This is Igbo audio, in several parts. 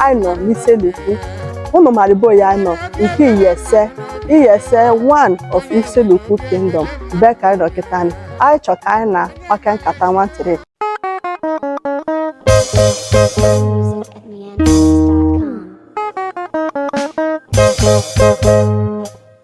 anyị nọ n'isele ukwu ụnụ maribo ya anyị nọ nke iyese iyese one of isele ukwu kingdom be ka anyị nọ kịta anyị anyị chọ ka anyị na wa kaa nkata nwantịrị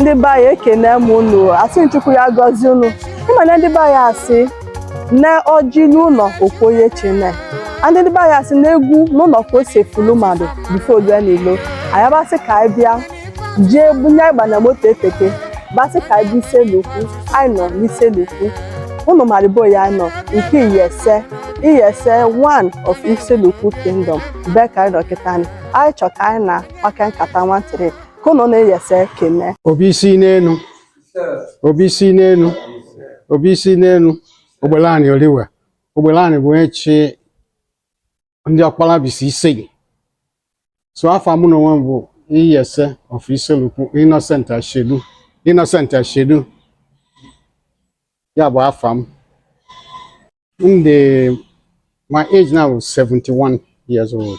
ndị be anyị ekene m unu asị chukwu ya gọzie unu ị ma na ndị be anyị asị na ọjị n'ụlọ o kwuo onye chene ndị ndị be anyị asị na egwu n'ụlọ ka o si efulu mmadụ before o lue n'ilo anyị abasị ka anyị bịa jee bunye agba na moto eteke basị ka anyị bịa isele ukwu anyị nọ n'isele ukwu unu maribo ya nọ nke iyese iyese one of isele ukwu kingdom be ka anyị nọ kịta anyị chọ ka anyị na wa kaa nkata nwantịrị ka ụnụ na iyese ekene obi isi n'enu obi isi n'enu obi isi n'enu ogbelani oliwe ogbelani bụ onye chi ndị ọkpalabisi ise gị so afa mụ na onwe m bụ iyese of isele ukwu innocent ashedu innocent ashedu ya bụ afa m and my age now is 71 years old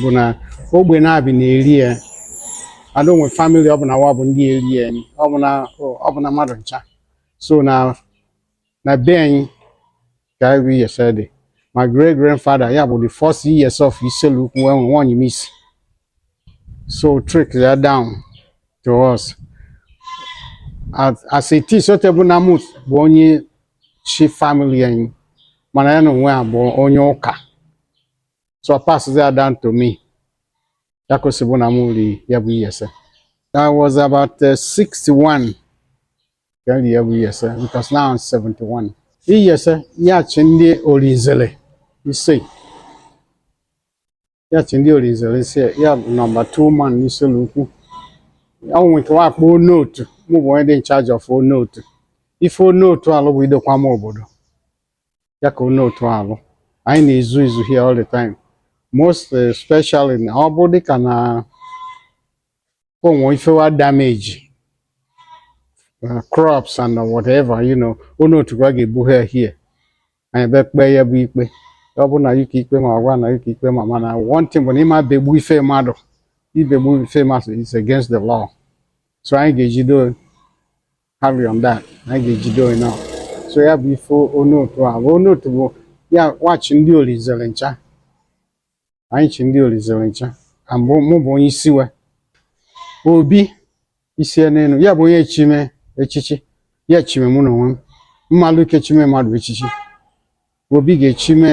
bụ na ogbe nabị na-eri ya a dị enwe famili ọ bụ na wa bụ ndị eri ya nị, ọ bụ na ọ bụ na mmadụ ncha so na na be anyị ka iyese dị my great grandfather ya bụ the first iyese of isele ukwu enwe nwanyị m isi so trickle down to us as as it is ọ te bụ nna mụ bụ onye chi famili anyị mana ya na onwe ya bụ onye ụka so ọ pass ya down to me. Ya ka o si bụ na m ri ya bụ iyese. I was about uh, 61 ka m ri ya bụ iyese because now I'm 71. Iyese ya chi ndị Olinzele iyese. Ya chi ndị Olinzele iyese ya bụ number 2 man n'Isele Ukwu. Ọ nwere nke wa kpọ onotu mụ bụ onye dị in charge of onotu. Ife onotu alụ bụ idokwama obodo. ya ka onotu alụ anyị na-ezu izu here all the time most especially na ọ bụ dịka na o nwe ife wa damage uh, crops and whatever you know onotu wa ga-ebu ha here anyị be kpee ya bụ ikpe ọ bụ na yụ ka ikpe ma a gwa na yụ ka ikpe ma mana one thing bụ na ị ma begbu ife mmadụ ibegbu ife mmadụ is against the law so anyị ga-ejido carry on that na anyị ga-ejide onye ahụ so ya bụ ife onotu a bụ onotu bụ ya wa chi ndị olinzele ncha anyị chi ndị olinzele ncha ka mbụ mụ bụ onye isi we obi isi n'enu ya bụ onye chime echichi ya chime mụ na onwe m mmalụ ike chime mmadụ echichi obi ga-echime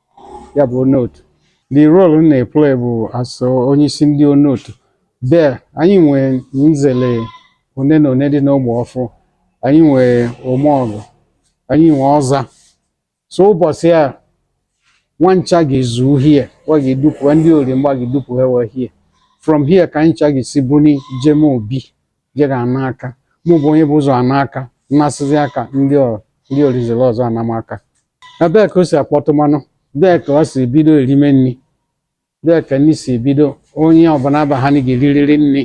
ya bụ onotu the role m na-eplay bụ as onyeisi ndị onotu there anyị nwee nzele one na one dị n'ogbe ọfụ anyị nwee omeọgụ anyị nwee ọza so ụbọchị a wa ncha ga-ezu uhie wa ga-edupụ ndị ori mgba ga-edupụ ha wee hie from here ka anyị ncha ga-esi buni jem obi je ga-ana aka mụ bụ onye bu ụzọ ana aka m nasịzi aka ndị ọ- ndị orinzere ọzọ anama aka ebee ka o si akpọtụ mmanụ bee ka wa si ebido erime nri bee ka nri si ebido onye ọbụla baha ga-eririri nri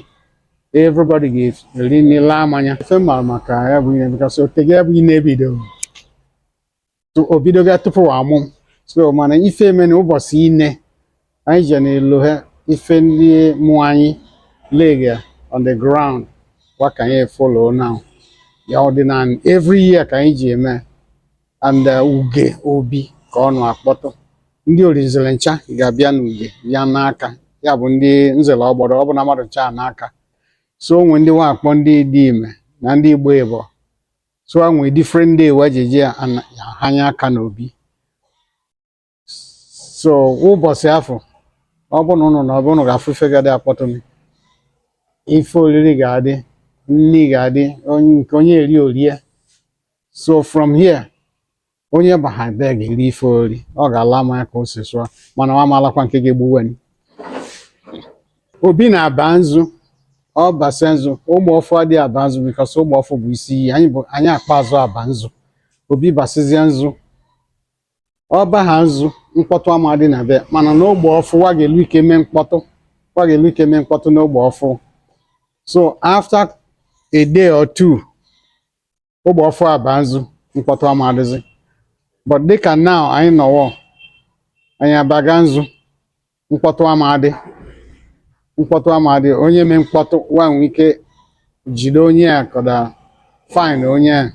everybody ga-eri nri laa mmanya ife ma maka ya bụ ihe because o tego ya bụ ihe na-ebido o bidoga tupu a mụ so mana ife e me na ụbọchị ine anyị je n'elu ha ife ndị mụ anyị lega on the ground wa ka anyị follow now ya ọdịnala every year ka anyị ji eme and uh, uge obi ka ọ nọ akpọtụ ndị orinzere ncha ga-abịa n'uge bịa naa aka ya bụ ndị nzere ọgbọrọ ọ bụna mmadụ ncha ana aka so o nwe ndị wa akpọ ndị idime na ndị igbe ibọ so wa nwe different day wa ji eje hanya aka n'obi so ụbọsị afụ ọ bụ na ụnụ na ọ bụ ụnụ ga-afụ ife ga-adị akpọtụ m ife oriri ga-adị nri ga-adị onye nke onye eri orie so from here onye baha be ga-eri ife ori ọ ga-ala mmanya ka o si sụọ mana ọ ma alakwa nke ga-egbu e obi na-aba nzu ọ basịa nzu ogbe ọfụ adị aba nzu because ogbe ọfụ bụ isi iyi anyị bụ anyị akpa azụ aba nzu obi basizie nzu ọ baha nzu mkpọtụ ama adị na be a mana n'ogbe ọfụ wa ga-elu ike mee mkpọtụ wa ga-elu ike mee mkpọtụ n'ogbe ọfụ so after a day or two ogbe ọfụ aba nzu mkpọtụ ama adịzi but dịka now anyị nọwọ anyị abaga nzu mkpọtụ ama adị mkpọtụ ama adị onye mee mkpọtụ wa nwee ike jide onye a kọda fine onye a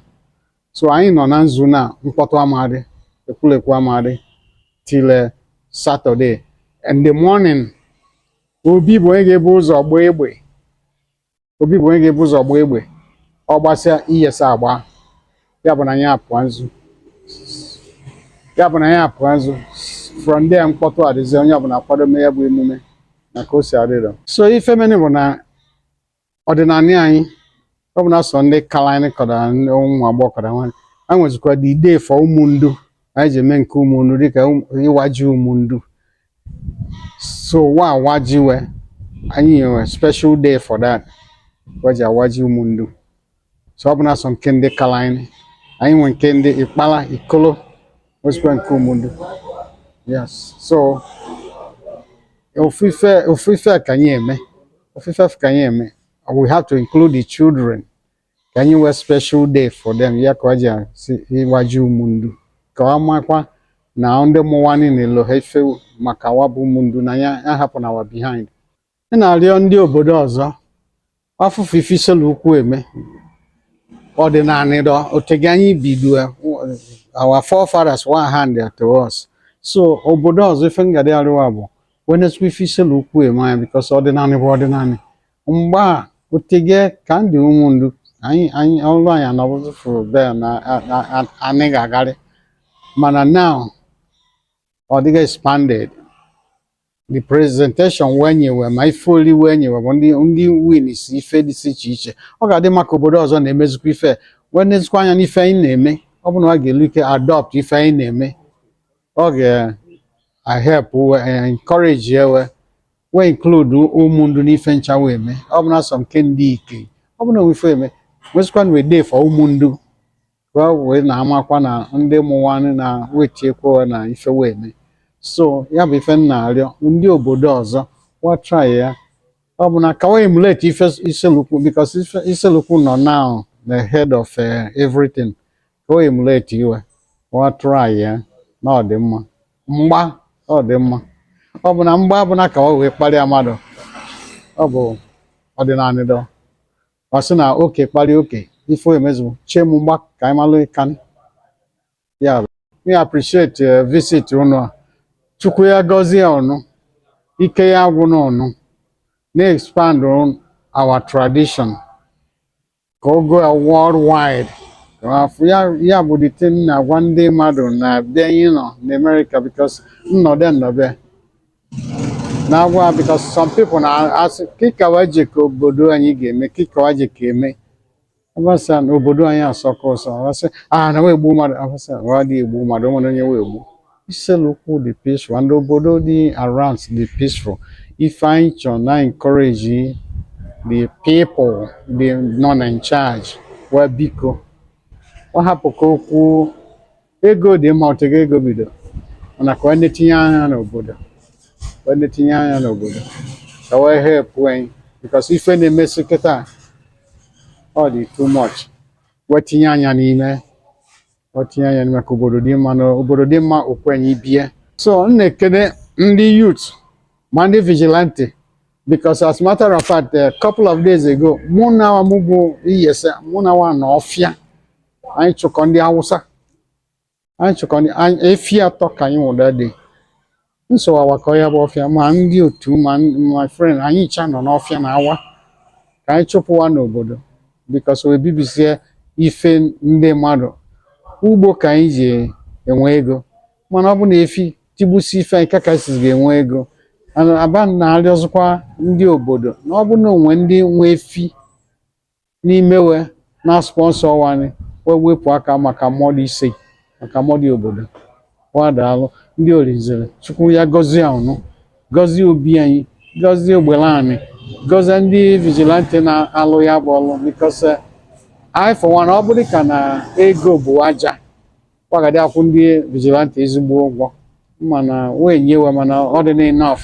so anyị nọ na nzu na mkpọtụ ama adị ekwulekwu ama adị till saturday in the morning obi bụ onye ga-ebu ụzọ gbaa egbe obi bụ onye ga-ebu ụzọ gbaa egbe ọ gbasịa iyase agba ya bụ na anyị apụa nzu ya bụ na anyị apụa nzu from there mkpọtụ adịzi onye ọbụla akwado mee ya bụ emume na ka o si adịrọ so ife meni bụ na ọdịnanị anyị ọ bụna sọ ndị kala anyị kọda ụmụ agbọghọ kọda nwaanyị a nwezikwa the day for ụmụndu anyị ji eme nke ụmụndu dịka ịwa ji ụmụndu so wa waji we anyị nwe special day for that waji awaji ụmụndu so ọ bụna sọ nke ndị kala anyị anyị nwe nke ndị ikpala ikolo nwesịkwa nke ụmụndu yes so ofufe ofufe ka anyị eme ofufe ka anyị eme we have to include the children ka anyị nwee special day for them ya ka wa ji asị ịwaji ụmụndu ka wa makwa na ndị mụwanị na-elo ha ife maka wa bụ ụmụndu na ya ahapụna wa behind ị na-arịọ ndị obodo ọzọ afụfụ ife Isele Ukwu eme ọdịnanị dọ otege anyị bido our forefathers wee hand to us so obodo ọzọ ife m ga-adị arịọ wa bụ we nesịkwa ife Isele Ukwu eme anyị because ọdịnanị bụ ọdịnanị mgba otege ka ndị ụmụndu anyị anyị ọrụ anyị anọbụzi fụrụ bel na a- a- a- anyị ga-agarị mana now ọ dịga expanded the presentation wee nyewe ma ife oli wee nyewe bụ ndị ndị wins ife dị iche iche ọ ga-adị mma ka obodo ọzọ na-emezikwa ife wee nezikwa anya n'ife anyị na-eme ọ bụ na wa ga-elu ike adopt ife anyị na-eme ọ ga-ehelp encourage we wee include ụmụndu n'ife ncha we eme ọ bụna sọ nke ndị ike ọ bụna o nwe ife eme nwesịkwa nwee day for ụmụndu wee wee na-amakwa na ndị mụwanị na we tiekwa na ife we eme so ya bụ ife m na-arịọ ndị obodo ọzọ wa try ya ọ bụ na ka wee emulate ife iselukwu because iselukwu nọ now the head of eh, everything ka wee emulate we wa try ya na ọ dị mma mgba ọ dị mma ọ bụna mgba bụ na ka wa wee kparịa mmadụ ọ bụ ọdịnanị dọ wa sị na oke kparịa oke ife emezu chie m mgba ka anyị malụ ike anyị ya bụ we appreciate eh, visit unu a chukwu ya gọzie unu ike ya agwụna unu na-expand on our tradition ka ọ go worldwide afụ ya ya bụ the thing na-agwa ndị mmadụ na be anyị nọ n'Amerịka because nnọdụ nnọbe na-agwa because some people na-asị kị ka wa jekọ obodo anyị ga-eme kị ka wa jekọ eme abasị na obodo anyị asọka ụsọ abasị na we egbu mmadụ abasị wa adị egbu mmadụ o nwere onye we egbu Iselukwu dị peaceful and obodo dị around dị peaceful. Ife anyị chọ na-encourage the people dị nọ na in charge wa biko ọ hapụ ka okwu ego dị mma otego ego bido mana ka wa na-etinye anya n'obodo ka wa na-etinye anya n'obodo ka wee help anyị because ife na-emesi kịta ọ dị too much wee tinye anya n'ime o tinye anya n'ime ka obodo dị mma na obodo dị mma okwenye ibie so m na-ekene ndị youth ma ndị vigilante because as a matter of fact a couple of days ago mụ nwa mụ bụ iyese mụ na wa na ọfịa anyị chụkọ ndị Awụsa anyị chụkọ ndị efi atọ ka anyị nwụda dị n so wa awakọ ya bụ ọfịa ma ndị otu ma my friend anyị cha nọ n'ọfịa na-awa ka anyị chụpụ wa n'obodo because we ebibisie ife ndị mmadụ ugbo ka anyị ji enwe ego mana ọ bụ na efi tigbusi ife anyị kọ ka anyị si ga-enwe ego aba na-arịọzikwa ndị obodo na ọ bụ na o nwe ndị nwe efi n'ime we na-sponsor wa ni we wepụ aka maka mọdụ ise maka mọdụ obodo wa daalụ ndị Olinzele Chukwu ya gọzie unu gọzie obi anyị gọzie Ogbelani gọzie ndị vigilante na-alụ ya bụ ọlụ because I for one ọ bụrụ ka na ego bụ aja wa ga-adị akwụ ndị vigilante ezigbo ụgwọ mana we enye we mana ọ dị na enough